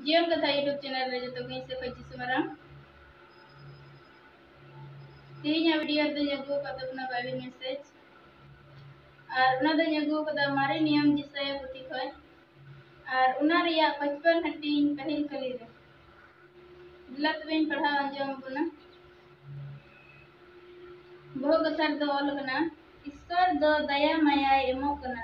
ᱡᱤᱭᱚᱱ ᱠᱟᱛᱷᱟ YouTube channel ᱨᱮ ᱡᱚᱛᱚ ᱜᱮᱧ ᱥᱮᱯᱷᱟ ᱡᱤᱥᱩ ᱢᱟᱨᱟᱝ ᱛᱮᱦᱮᱧᱟᱜ ᱵᱷᱤᱰᱤᱭᱳ ᱨᱮᱫᱚᱧ ᱟᱹᱜᱩ ᱟᱠᱟᱫ ᱛᱟᱵᱚᱱᱟ ᱵᱟᱭᱵᱮᱞ ᱢᱮᱥᱮᱡᱽ ᱟᱨ ᱚᱱᱟ ᱫᱚᱧ ᱟᱹᱜᱩ ᱟᱠᱟᱫᱟ ᱢᱟᱨᱮ ᱱᱤᱭᱚᱢ ᱡᱤᱥᱟᱭᱟ ᱯᱩᱛᱷᱤ ᱠᱷᱚᱱ ᱟᱨ ᱚᱱᱟ ᱨᱮᱭᱟᱜ ᱯᱟᱸᱪᱯᱟᱱ ᱦᱟᱹᱴᱤᱧ ᱯᱟᱹᱦᱤᱞ ᱠᱟᱹᱞᱤ ᱨᱮ ᱫᱮᱞᱟ ᱛᱚᱵᱮᱧ ᱯᱟᱲᱦᱟᱣ ᱟᱸᱡᱚᱢ ᱟᱵᱚᱱᱟ ᱵᱚᱦᱚᱜ ᱠᱟᱛᱷᱟ ᱨᱮᱫᱚ ᱚᱞ ᱟᱠᱟᱱᱟ ᱤᱥᱛᱚᱨ ᱫᱚ ᱫᱟᱭᱟ ᱢᱟᱭᱟᱭ ᱮᱢᱚᱜ ᱠᱟᱱᱟ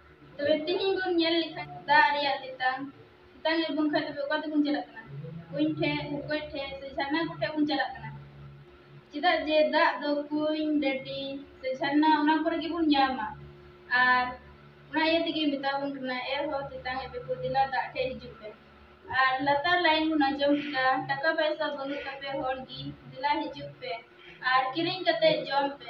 ᱛᱚᱵᱮ ᱛᱤᱦᱤᱧ ᱵᱚᱱ ᱧᱮᱞ ᱞᱮᱠᱷᱟᱱ ᱫᱟᱜ ᱨᱮᱭᱟᱜ ᱛᱮᱛᱟᱝ ᱛᱮᱛᱟᱝ ᱮᱫ ᱵᱚᱱ ᱠᱷᱟᱱ ᱛᱚᱵᱮ ᱚᱠᱟ ᱛᱮᱵᱚᱱ ᱪᱟᱞᱟᱜ ᱠᱟᱱᱟ ᱠᱩᱧ ᱴᱷᱮᱱ ᱵᱷᱩᱠᱟᱹᱭ ᱴᱷᱮᱱ ᱥᱮ ᱡᱷᱟᱨᱱᱟ ᱠᱚᱴᱷᱮᱱ ᱵᱚᱱ ᱪᱟᱞᱟᱜ ᱠᱟᱱᱟ ᱪᱮᱫᱟᱜ ᱡᱮ ᱫᱟᱜ ᱫᱚ ᱠᱩᱧ ᱰᱟᱹᱰᱤ ᱥᱮ ᱡᱷᱟᱨᱱᱟ ᱚᱱᱟ ᱠᱚᱨᱮ ᱜᱮᱵᱚᱱ ᱧᱟᱢᱟ ᱟᱨ ᱚᱱᱟ ᱤᱭᱟᱹ ᱛᱮᱜᱮ ᱢᱮᱛᱟ ᱵᱚᱱ ᱠᱟᱱᱟ ᱮ ᱦᱚ ᱛᱮᱛᱟᱝ ᱮᱫ ᱯᱮᱠᱚ ᱫᱮᱞᱟ ᱫᱟᱜ ᱴᱷᱮᱱ ᱦᱤᱡᱩᱜ ᱯᱮ ᱟᱨ ᱞᱟᱛᱟᱨ ᱞᱟᱭᱤᱱ ᱵᱚᱱ ᱟᱸᱡᱚᱢ ᱠᱮᱫᱟ ᱴᱟᱠᱟ ᱯᱚᱭᱥᱟ ᱵᱟᱹᱱᱩᱜ ᱛᱟᱯᱮ ᱦᱚᱲ ᱜᱮ ᱫᱮᱞᱟ ᱦᱤᱡᱩᱜ ᱯᱮ ᱟᱨ ᱠᱤᱨᱤᱧ ᱠᱟᱛᱮ ᱡᱚᱢ ᱯᱮ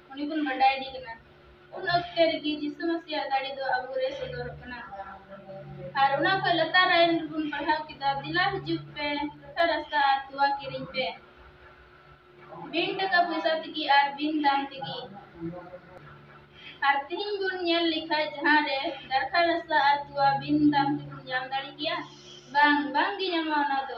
ᱩᱱᱤ ᱵᱚᱱ ᱵᱟᱰᱟᱭ ᱤᱫᱤ ᱠᱟᱱᱟ ᱩᱱ ᱚᱠᱛᱮ ᱨᱮᱜᱮ ᱡᱤᱥᱩ ᱢᱟᱥᱤᱭᱟᱜ ᱫᱟᱲᱮ ᱫᱚ ᱟᱵᱚ ᱨᱮ ᱥᱚᱫᱚᱨᱚᱜ ᱠᱟᱱᱟ ᱟᱨ ᱚᱱᱟ ᱠᱷᱚᱱ ᱞᱟᱛᱟᱨ ᱟᱭᱤᱱ ᱨᱮᱵᱚᱱ ᱯᱟᱲᱦᱟᱣ ᱠᱮᱫᱟ ᱫᱮᱞᱟ ᱦᱤᱡᱩᱜ ᱯᱮ ᱨᱚᱴᱷᱟ ᱨᱟᱥᱛᱟ ᱟᱨ ᱛᱚᱣᱟ ᱠᱤᱨᱤᱧ ᱯᱮ ᱵᱤᱱ ᱴᱟᱠᱟ ᱯᱚᱭᱥᱟ ᱛᱮᱜᱮ ᱟᱨ ᱵᱤᱱ ᱫᱟᱢ ᱛᱮᱜᱮ ᱟᱨ ᱛᱮᱦᱮᱧ ᱵᱚᱱ ᱧᱮᱞ ᱞᱮᱠᱷᱟᱡ ᱡᱟᱦᱟᱸ ᱨᱮ ᱫᱟᱨᱠᱷᱟ ᱨᱟᱥᱛᱟ ᱟᱨ ᱛᱚᱣᱟ ᱵᱤᱱ ᱫᱟᱢ ᱛᱮᱵᱚᱱ ᱧᱟᱢ ᱫᱟᱲᱮ ᱜᱮᱭᱟ ᱵᱟᱝ ᱵᱟᱝᱜᱮ ᱧᱟᱢᱚᱜᱼᱟ ᱚᱱᱟ ᱫᱚ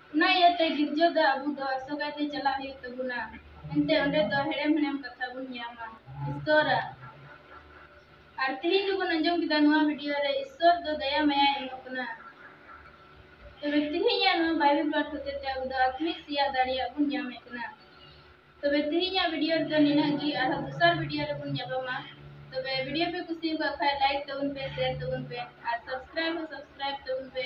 ᱚᱱᱟ ᱤᱭᱟᱹᱛᱮ ᱜᱤᱨᱡᱟᱹ ᱫᱚ ᱟᱵᱚ ᱫᱚ ᱟᱥᱚᱠᱟᱭ ᱛᱮ ᱪᱟᱞᱟᱜ ᱦᱩᱭᱩᱜ ᱛᱟᱵᱚᱱᱟ ᱮᱱᱛᱮ ᱚᱸᱰᱮ ᱫᱚ ᱦᱮᱲᱮᱢ ᱦᱮᱲᱮᱢ ᱠᱟᱛᱷᱟ ᱵᱚᱱ ᱧᱟᱢᱟ ᱤᱥᱛᱚᱨᱟᱜ ᱟᱨ ᱛᱮᱦᱮᱧ ᱫᱚᱵᱚᱱ ᱟᱸᱡᱚᱢ ᱠᱮᱫᱟ ᱱᱚᱣᱟ ᱵᱷᱤᱰᱤᱭᱳ ᱨᱮ ᱤᱥᱛᱚᱨ ᱫᱚ ᱫᱟᱭᱟ ᱢᱟᱭᱟ ᱮᱢᱚᱜ ᱠᱟᱱᱟ ᱛᱚᱵᱮ ᱛᱮᱦᱮᱧᱟᱜ ᱱᱚᱣᱟ ᱵᱟᱭᱵᱤᱞ ᱯᱟᱴ ᱦᱚᱛᱮ ᱛᱮ ᱟᱵᱚ ᱫᱚ ᱟᱛᱢᱤᱠ ᱥᱮᱭᱟ ᱫᱟᱲᱮᱭᱟᱜ ᱵᱚᱱ ᱧᱟᱢᱮᱫ ᱠᱟᱱᱟ ᱛᱚᱵᱮ ᱛᱮᱦᱮᱧᱟᱜ ᱵᱷᱤᱰᱤᱭᱳ ᱨᱮᱫᱚ ᱱᱤᱱᱟᱹᱜ ᱜᱮ ᱟᱨᱦᱚᱸ ᱫᱚᱥᱟᱨ ᱵᱷᱤᱰᱤᱭᱳ ᱨᱮᱵᱚᱱ ᱧᱟᱯᱟᱢᱟ ᱛᱚᱵᱮ ᱵᱷᱤᱰᱤᱭᱳ ᱯᱮ ᱠᱩᱥᱤ ᱟᱠᱟᱫ ᱠᱷᱟᱱ ᱞᱟᱭᱤᱠ ᱛᱟᱵᱚᱱ ᱯᱮ ᱥᱮᱭᱟᱨ ᱛᱟᱵᱚᱱ ᱯᱮ ᱟᱨ ᱥᱟᱵᱥᱠᱨᱟᱭᱤᱵ ᱦᱚᱸ ᱥᱟᱵᱥᱠᱨᱟᱭᱤᱵ ᱛᱟᱵᱚᱱ ᱯᱮ